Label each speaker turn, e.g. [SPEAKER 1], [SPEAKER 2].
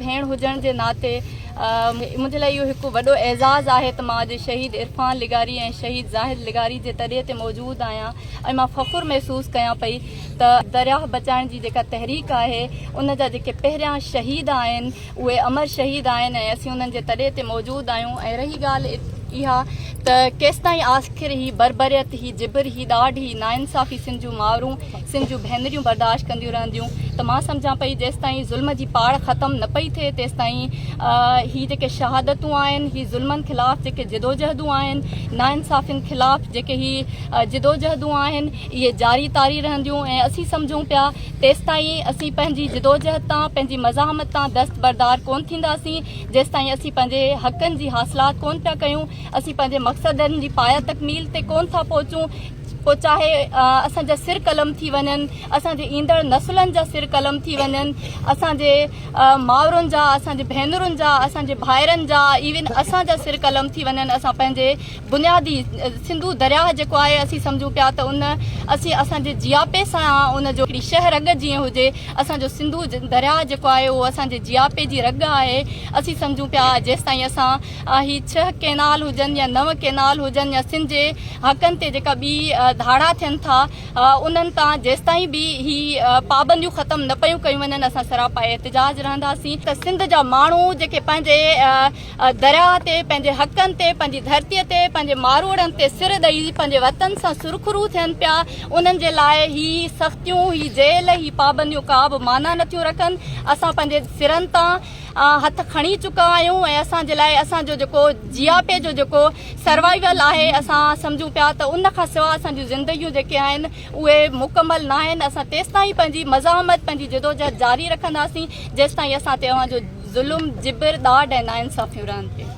[SPEAKER 1] ڀيڻ هجڻ جي ناتي منهنجي لاء اهو هڪ وڏو اعزاز آهي ته مان اڄ شهيد عرفان لغاري ۽ شهيد زاهد لغاري جي تڏي تي موجود آهيان ۽ مان فخر محسوس ڪيان پئي ته درياهه بچائڻ جي جيڪا تحريڪ آهي ان جا جيڪي پهريان شهيد آهن اهي امر شهيد آهن ۽ اسين انهن جي تڏي تي موجود آهيون ۽ رهي ڳالهه اها ته ڪيستائين آخر هي بربريت هي جبر هي ڏاڍ هي ناانصافي سنڌ جون ماورون سنڌ جون ڀينريون برداشت ڪنديون رهنديون ته مان سمجهان پئي جيستائين ظلم جي پاڙ ختم نه پئي ٿئي تيستائين هي جيڪي شهادتون آهن هي ظلمن خلاف جيڪي جدوجهدون آهن ناانصافين خلاف جيڪي هي جدوجهدون آهن اهي جاري تاري رهنديون ۽ اسين سمجهون پيا تيستائين اسين پنهنجي جدوجهد تان پنهنجي مزاحمت تان دست بردار ڪون ٿينداسين جيستائين اسين پنهنجي حقن جي حاصلات ڪون پيا ڪيون اسين پنهنجي مقصدن جي پايا تڪميل تي ڪون ٿا پهچون پوء چاهي اسان جا سر قلم ٿي وڃن، اسان جي ايندڙ نسلن جا سر قلم ٿي وڃن، اسان جي مائرن جا، اسان جي ڀينرن جا، اسان جي ڀائرن جا ايون اسان جا سر قلم ٿي وڃن، اسان پنهنجي بنيادي سنڌو درياهه جيڪو آهي اسين سمجهون پيا ته ان اسين اسان جي جياپي سان ان جو هڪڙي شهه رڳ جيئن هجي، اسان جو سنڌو درياهه جيڪو آهي اهو اسان جي جياپي جي رڳ آهي، اسين سمجهون پيا جيستائين اسان. هي ڇهه ڪئنال هجن يا نو ڪئنال هجن يا سنڌ جي حقن تي جيڪا ٻي ڌاڙا ٿين ٿا انهن تان جيستائين به هي پابنديون ختم نه پيون ڪيون وڃن اسان سراپا احتجاج رهنداسين ته سنڌ جا ماڻهو جيڪي پنهنجي درياء تي پنهنجي حقن تي پنهنجي ڌرتي تي پنهنجي ماروئڙن تي سر ڏئي پنهنجي وطن سان سرخرو ٿين پيا انهن جي لاء هي سختيون هي جيل هي پابنديون ڪا به معنيٰ نه ٿيون رکن اسان پنهنجي سرن تان هٿ کڻي چڪا آهيون ۽ اسان جي لاء اسان جو جيڪو جياپي جو جيڪو سروائيول آهي اسان سمجهون پيا ته ان کان سوا اسان جون زندگيون جيڪي آهن اهي مڪمل ناهن اسان تيستائين پنهنجي مزاحمت پنهنجي جدوجهد جاري رکنداسين جيستائين اسان تي اوهان جو ظلم جبر ڏاڍ ۽ ناانصافيون رهن ٿيون